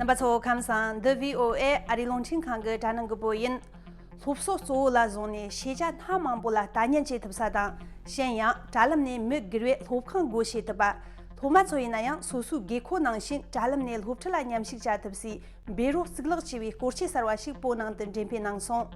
རྣམ་པ་གཙོ་བོ་ཁམས་བཟང་འདི VOA ཨ་རི་རླུང་འཕྲིན་ཁང་གི་དྲ་སྣང་གི་པོ་ཡིན། སློབ་གསོ་གཙོ་བོ་ལ་བཟུང་ནས་ཤེས་བྱ་སྣ་མང་པོ་ལ་ལྟ་ཉན་བྱེད་ཐུབ་ས་དང་གཞན་ཡང་དྲ་ལམ་ནས་མི་སྒེར་བས་སློབ་ཁང་སྒོ་ཕྱེ་ཐུབ་པ། སློབ་མ་ཚོ་ཡིན་ན་ཡང་སོ་སོའི་དགོས་མཁོ་ནང་བཞིན་དྲ་ལམ་ནས་སློབ་ཁྲིད་ལ་ཉམས་ཞིབ་བྱ་ཐུབ་སའི་འབད་རོགས་གཙུག་ལག་ཆེ་བའི་སྐོར་ཆས་གསར་བ་ཞིག་པོ་ནང་དུ་འགྲེམས་སྤེལ་གནང་སོང།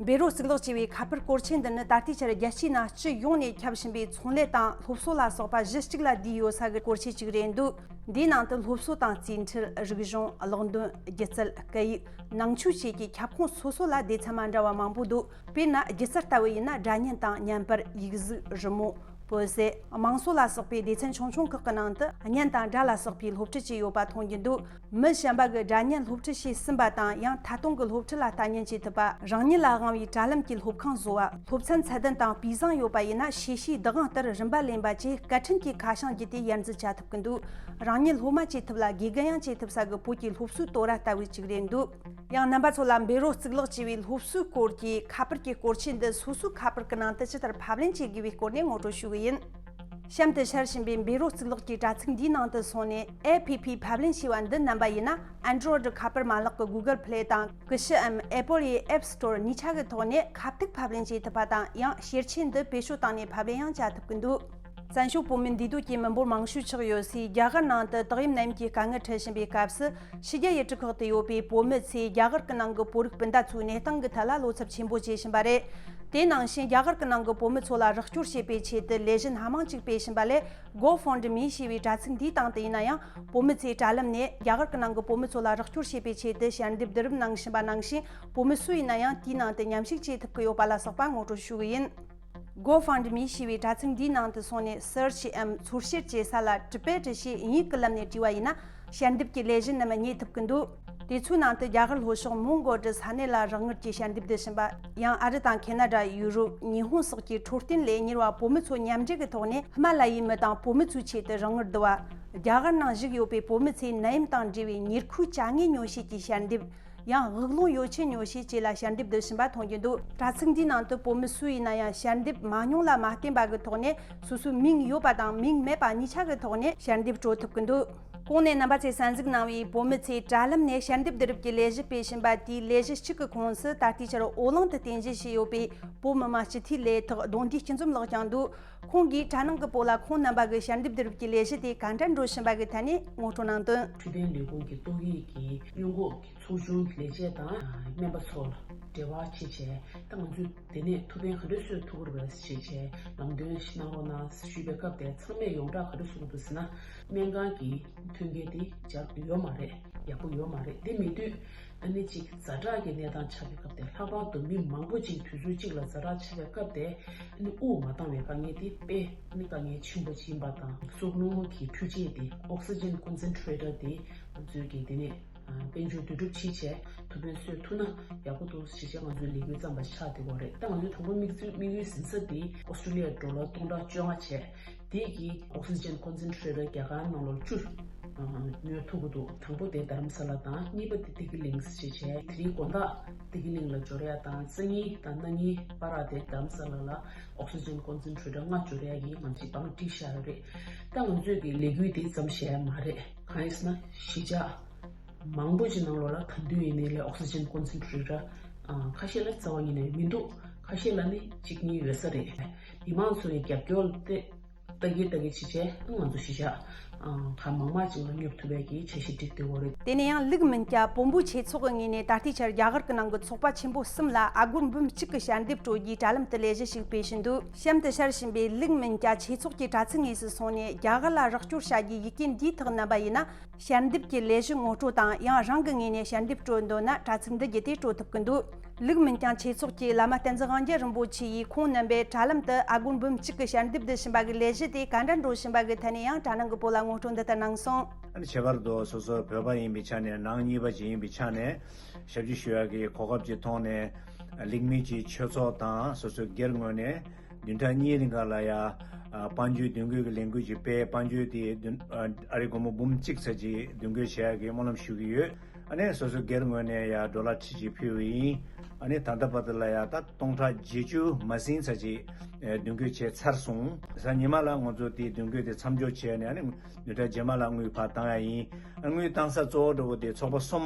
བེ་རོས་གཙུག་ལག་བྱས་པའི་ཁ་པར་སྐོར་ཆེན་འདི་ནི་ད་ལྟའི་ཆར་རྒྱལ་སྤྱིའི་ནང་སྤྱི་ཡོངས་ནས་ཁྱབ་བཞིན་པའི་ཚོང་ལས་དང་སློབ་གསོ་ལ་སོགས་པ་གཞི་གཅིག་ལ་བསྡུས་ཡོད་ས་གི་སྐོར་ཆེན་གཅིག་རེད་འདུག་འདིའི་ནང་དུ་སློབ་གསོ་དང་རྩིས་འཕྲུལ་རིག་གཞུང་གློག་འདོན་སྒྱུ་རྩལ་སྐད་ཡིག་ནང་ཆོས་བཅས་ཀྱི་ཁྱབ་ཁོངས་སོ་སོ་ལ་སྡེ་ཚན་མ་འདྲ་བ་མང་པོ་འདུག་དཔེར་ན་སྒྱུ་རྩལ་ལྟ་བུ་ཡིན་ན་སྒྲ་བརྙན་དང་བརྙན་དཔེར་ཡིག་གཟུགས་རི་མོ་བོད་ཟས་དམངས་སྲོལ་ལ་སོགས་པའི་སྡེ་ཚན་ཆུང་ཆུང་ཁག་གི་ནང་དུ་བརྙན་དང་སྒྲ་ལ་སོགས་པའི་སློབ་ཁྲིད་ཅིག་ཡོད་པ་མཐོང་རྒྱུ་འདུག། མི་གཞན་པ་གི་དགྲ་གཉེན་སློབ་ཁྲིད་བྱས་ཟིན་པ་དང་ཡང་ད་དུང་གི་སློབ་ཁྲིད་ལ་ལྟ་ཉན་བྱེད་ཐུབ་པ། རང་ཉིད་ལ་དབང་བའི་དྲ་ལམ་གྱི་སློབ་ཁང་བཟོ་བ། སློབ་ཚན་ཚད་ལྡན་དང་སྤུས་བཟང་ཡོད་པ་ཡིན་ན་ཤེས་བྱའི་བདག་དབང་ལྟར་རིམ་པ་ལེན་པ་བཅས་སྐད་འཕྲིན་གྱི་ཁ་བྱང་བརྒྱུད་དེ་ཡར་འཛུགས་བྱ་ཐུབ་ཀྱི་འདུག་རང་ཉིད་སློབ་མ་བྱེད་ཐུབ་ལ་དགེ་རྒན་ཡང་བྱེད་ཐུབ་ས་གི་བོད་ཀྱི་སློབ་གསོའི་དོ་ར་ལྟ་བུའི་གཅིག་རེད་འདུག། ཡང་རྣམ་པ་ཚོ་ལ་འབེལ་རོགས་གཙུག་ལག་ཅེས་པའི་སློབ་གསོའི་སྐོར་གྱི་ཁ་པར་གྱི་སྐོར་ཆས་འདི་སོ་སོའི་ཁ་པར་གི་ནང་དུ་ཇི་ལྟར་ཕབ་ལེན་བྱེད་དགོས་པའི་སྐོར་ནས་ངོ་སྤྲོད་ཞུ་གི་ཡིན། གཤམ་དུ་འཆར་བཞིན་པའི་འབེ་རོ་རྩིས་ལོགས་ཀྱི་དྲ་ཚིགས་འདིའི་ནང་དུ་སོང་ནས APP ཕབ་ལེན་བྱས་པ་འདི་བསྣམས་པ་ཡིན་ན Android གི་ཁ་པར་མ་ལག་གི Google Play དང་གི་ཤི་འམ Apple ཡི App Store གཉིས་ཆ་གི་ཐོག་ནས་ཁ་ཐུག་ཕབ་ལེན་བྱེད་ཐུབ་པ་དང་ཡང་ཤེར་ཆས་འདི་བེད་སྤྱོད་བཏང་ནས་ཕབ་ལེན་ཡང་བྱ་ཐུབ་ཀྱི་འདུག། བཙན་བྱོལ་བོད་མི་འདུས་སྡོད་ཀྱི་མི་འབོར་མང་ཤོས་ཆགས་ཡོད་སའི་རྒྱ་གར་ནང་དུ་དག་ཡིབ་ནད་ཡམས་ཀྱི་དཀའ་ངལ་འཕྲད་བཞིན་པའི་སྐབས་སུ། ཕྱི་རྒྱལ་ཡུལ་གྲུ་ཁག་ཏུ་ཡོད་པའི་བོད་མི་ཚོས་རྒྱ་གར་གྱི་ནང་གི་བོད་རིགས་སྤུན་ཟླ་ཚོའི་གནས་སྟངས་ཀྱི་ཐད་ལ་བློ་འཚབ་ཆེན་པོ་བྱེད་བཞིན་པ་རེད། དེ་ནང་བཞིན་རྒྱ་གར་གྱི་ནང་གི་བོད་མི་ཚོ་ལ་རོགས་སྐྱོར་བྱེད་པའི་ཆེད་དུ་ལས་གཞི་སྣ་མང་ཅིག་སྤེལ་བཞིན་པ་ལས Go Fund Me ཞེས་པའི་དྲ་ཚིགས་འདིའི་སྟེང་དུ་ཡིན་ན་ཡང་བོད་མི་ཚོས་དྲ་ལམ་ནས་རྒྱ་གར་གྱི་ནང་གི་བོད་མི་ཚོ་ལ་རོགས་སྐྱོར་བྱེད་པའི་ཆེད་དུ་ཞལ་འདེབས་བསྡུ་རུབ་གནང་བཞིན་པ་ནང་བཞིན་བོད་མི་སུ་ཡིན་ན་ཡང་དེའི་ནང་དུ་ཉམས་ཞིབ་བྱེད་ཐུབ་ཀྱི་ཡོད་པ་ལ་སོགས་པ་ངོ་སྤྲོད་ཞུ་གི་ཡིན། Go Fund Me ཞེས་པའི་དྲ་ཚིགས་འདིའི་ནང་དུ་སོང་ནས Search འམ་ཚོར་བཤེར་བྱེད་ས་ལ་གྲུབ་པའི་དྲི་ཞེས་ཨིན་ཡིག་གི་ལམ་ནས་བྲིས་བ་ཡིན་ན་ཞལ་འདེབས་ཀྱི་ལས་གཞི་རྣམས་རྙེད་ཐུབ་ཀྱི་འདུག་དེ་ཚོའི་ནང་དུ་རྒྱ་གར་ལྷོ་ཕྱོགས་མོང་གོལ་གྱི་ས་གནས་ལ་རག་དངུལ་གྱི་ཞལ་འདེབས་བསྡུ་བཞིན་པ། ཡང་ཨ་རི་དང་ཁེ་ན་དྲ། ཡུ་རོབ། ཉི་ཧོང་སོགས་ཀྱི་འཕྲོད་བསྟེན་ལས་གཉེར་བ་བོད་མི་ཚོ་མཉམ་འབྲེལ་གྱི་ཐོག་ནས་ཧི་མ་ལ་ཡའི་མི་དང་བོད་མི་ཚོའི་ཆེད་དུ་རང་དངུལ་བསྡུ་བ། རྒྱ་གར་ནང་བཞུགས་ཡོད་པའི་བོད་མི་ཚོས་ནད་ཡམས་དང་འབྲེལ་བའི་ཉེར་མཁོའི་བྱ་དངོས་ཉོ་བྱེད་ཀྱི་ཞལ་འདེབས། ཡང་དབུགས་རླུང་ཡོ་བྱད་ཉོ་བྱེད་བཅས་ལ་ཞལ་འདེབས་བསྡུ་བཞིན་པ་མཐོང་རྒྱུ་འདུག་དྲ་ཚིགས་འདིའི་ནང་དུ་བོད་མི་སུ་ཡིན་ན་ཡང་ཞལ་འདེབས་མ་མྱོང་ལ་མ་བསྟན་པ་གི་ཐོག་ནས་སོ་སོའི་མིང་ཡོད་པ་དང་མིང་མེད་པ་གཉིས་ཆ་གི་ཐོག་ནས་ཞལ་འདེབས་སྤྲོད་ཐུབ་གི་འདུག་གོང་ནས་རྣམ་པ་ཚོས་གསན་གཟིགས་གནང་བའི་བོད་མི་ཚོས་དྲ་ལམ་ནས་ཞལ་འདེབས་བསྡུ་རུབ་ཀྱི་ལས་གཞི་སྤེལ་བཞིན་པ་དེའི་ལས་གཞི་གཅིག་གི་ཁོངས་སུ་ད་ལྟའི་ཆར་འོག་རླུང་དུ་རྟེན་གཞི་བྱས་ཡོད་པའི་བོད་མི་མ་སྤྱི་འཐུས་ལས་ཐག་རྡུང་རྡེག་སྤྱི་འཛོམས་ལགས་ཀྱང་འདུག་ཁོང་གིས་གྲྭ་ནང་གི་སྤོ་ལ་ཁོང་རྣམ་པ་གི་ཞལ་འདེབས་བསྡུ་རུབ་ཀྱི་ལས་གཞི་དེ་ག་འདྲ་འགྲོ་བཞིན་པ་གི་ཐད་ནས་ངོ་སྤྲོད་གནང་དོན། འཕྲོད་བསྟེན་ལས་ཁུངས་ཀྱི་ཏོག་དབྱིབས་ཀྱི་སྔོན་འགོག་གི་ཚོགས་ཆུང་གི་ལས་བྱེད་དང་སྨན་པ་ཚོ་ལ་འབྲེལ་བ་བྱེད་ཆེད་ད་ང་ཚོས་དེ་ནས་ཐུགས་ཕན་ག་འདྲས་གསོས་ཐུབ་པར་བྱེད་ཆེད་ལམ་སྟོན་ཞིག་གནང་རོགས་གནང་ཞུས་པའི་སྐབས་དེར་ཚང་མས་ཡོངས་གྲགས་ག་འདྲ་བཟོ་གི་འདུག་ཟེར་ན་སྨན་ཁང་གི་ཐོན་སྐྱེད་དེ་འཇགས་ཡོད་མ་རེད་ཡག་པོ་ཡོད་མ་རེད་དེ་མེད་དུས། ཨ་ནེ་གཅིག་གིས་རྫ་དྲག་གི་གནས་སྟངས་ཆགས་པའི་སྐབས་དེར་ལྷག་པར་དུ་མི་མང་པོ་གཅིག་དུས་ཚོད་གཅིག་ལ་རྫ་དྲག་ཆགས་པའི་སྐབས་དེ་ཨ་ནེ་དབུགས་མ་བཏང་བའི་དཀའ་ངལ་དེ་དཔེ་ཨ་ནེ་དཀའ་ངལ་ཆེན་པོ་ཡིན་པ་དང། སྲོག་རླུང་ངོགས་ཀྱི་འཕྲུལ་ཆས་དེ Oxygen Concentrator དེ་ང་ཚོས་ཀྱིས་དེ་ནས་དཔལ་འབྱོར་འདུས་གྲུབ་ཕྱིས་ཆད་ཐུབ་དཔོན་གསོད་ཐུབ་ན་ཡག་པོ་འདུག་ཞེས་བྱས་ང་ཚོའི་ལས་འགུལ་བརྩམས་པ་ཆགས་དེ་བོ་རེད་ད་ང་ཚོའི་དང་པོ་དམིགས་ཡུལ་ཟིན་ས་དེ Australia འགྲོ་ལ་སྟོང་ཕྲག་བཅོ་ལྔ་བྱས། དེ་ཡིས Oxygen Concentrator རྒྱ་གར་ནང་ལོ་བཅུར་ཉོས་ཐུབ་པོ་འདུག་དང་པོ་དེ་དྷ་རམ་ས་ལ་དང་གཉིས་པ་དེ་ཏི་ཀི་ལིངས་ཞེས་བྱས་དེ་རིང་དགོན་བདག་ཏི་ཀི་ལིངས་ལ་འབྱོར་ཡ་དང་རྩེ་གཉིས་དང་སྣ་གཉིས་པ་ར་དེ་དྷ་རམ་ས་ལ་ལ Oxygen Concentrator ལྔ་འབྱོར་ཡ་ཡིན་ང་ཚོས་པང་བཀྲིས་ཤར་རེད་ད་ང་ཚོས་ཀྱི་ལས་འགུལ་དེ་བརྩམས་བཞེས་ཡ་མ་རེད་གང་ཡིན་ཟེར་ན་གཞིས་ཆགས་མང་པོ་ཆེ་ནང་ལོ་ལ་དང་དུས་ཡིན་ནའི་ལས Oxygen Concentrator ཁ་ཤས་ལ་རྩ་བ་ཉིད་ནས་མི་འདུག་ཁ་ཤས་ལ་ནི་གཅིག་གཉིས་ཡོད་ས་རེད། ཡིག་མང་ཚོ་ཡི་རྒྱབ་སྐྱོར་ཏེ། བདག་གིས་བདག་གི་བྱས་རྗེས་ང་ཚོ་གཞི་བཞག་གང་མང་མང་ཅིག་ལ་སྙོབ་ཐུབ་པའི་གྱི་བྱས་གཞི་བསྒྲིགས་ཏེ་འོ། དེ་ནས་ཡང་ལིག་མིན་ཀྱ་པོ་འབུ་ཆེ་ཚོགས་ངེས་ནས་ད་ལྟའི་ཆར་རྒྱ་གར་གི་ནང་གི་ཚོགས་པ་ཆེན་པོ་གསུམ་ལ་ཨ་སྒོར་འབུམ་གཅིག་གི་ཞལ་འདེབས་སྤྲོད་རྒྱུའི་དྲ་ལམ་དུ་ལས་གཞི་ཞིག་སྤེལ་བཞིན་འདུག་གཤམ་དུ་ཤར་བཞིན་པའི་ལིག་མིན་ཀྱ་ཆེ་ཚོགས་ཀྱི་དྲ་ཚིགས་ངོས་སུ་སོང་ནས་རྒྱ་གར་ལ་རོགས་སྐྱོར་བྱ་རྒྱུའི་ཡི་གེ་འདིའི་ཐག་བསྣན་པ་ཡིན་ན། ཞལ་འདེབས་ཀྱི་ལས་གཞི་ངོ་སྤྲོད་དང་ཡང་རང་གི་ངོས་ནས་ཞལ་འདེབས་སྤྲོད་འདོད་ན་དྲ་ཚིགས་འདི་བརྒྱུད་དེ་སྤྲོད་ཐུབ་ཀྱི་འདུག་ལུགས་མིན་ཀྱང་ཆོས་ཚོགས་ཀྱི་བླ་མ་བསྟན་འཛིན་དབང་རྒྱལ་རིན་པོ་ཆེ་ཡིས་ཁོང་རྣམ་པའི་དྲ་ལམ་དུ་ཨ་སྒོར་འབུམ་གཅིག་གི་ཞལ་འདེབས་འདི་བྱིན་པ་གི་ལས་གཞི་དེ་ག་འདྲ་འགྲོ་བཞིན་པ་གི་ཐད་ནས་ཡང་དྲ་ནང་གི་བོད་ལ་ངོ་སྤྲོད་འདི་ལྟར་གནང་སོང། ཁྱད་པར་དུ་སོ་སོ་བོད་པ་ཡིན་པའི་ཆ་ནས་ནང་གཉིས་པ་ཞིག་ཡིན་པའི་ཆ་ནས་ཞབས་ཞུ་ཞུ་བ་གི་གོ་སྐབས་ཅིག་མཐོང་ནས། ལུགས་མིན་གྱི་ཆོས་ཚོགས་དང་སོ་སོའི་སྒེར་ངོས་ནས། བདུན་ཕྲག་གཉིས་རིང་ག་ལ་ཡ། དཔའ་འཇུས་བདུན་རྒོད་ཀྱི་ལས་འགུལ་གྱི་དཔེ་དཔའ་འཇུས་དེ་བདུན། ཨ་རིག་སྒོར་མོ་འབུམ་གཅིག་ཚར་གཅིག་བདུན་རྒོད་བྱས་ཡག་གི་སྨོན་ལམ་ཞུ་གི་ཡོད། ཨ་ནས་སོ་སོའི་སྒེར་ངོས་ནས་ཡ་འགྲོ་ལ་ཁྲིད་ཅིག་ཕུལ་བས་ཡིན། ཨ་ནས་ད་ལྟ་བར་དུ་ལ་ཡ་ད་སྟོང་ཕྲག་བརྒྱད་ཅུ་མ་ཟིན་ཚར་གཅིག་བདུན་རྒོད་བྱས་ཚར་སོང། གཟའ་ཉི་མ་ལ་ངོ་ཚོ་དེ་བདུན་རྒོད་དེ་མཚམས་འཇོག་བྱས་ནས་ཨ་ནས་བདུན་ཕྲག་རྗེས་མ་ལ་དངུལ་བར་བཏང་ཡ་ཡིན། དངུལ་བཏང་ས་གཙོ་བོ་འགྲོ་བོ་དེ་ཚོགས་པ་གསུམ།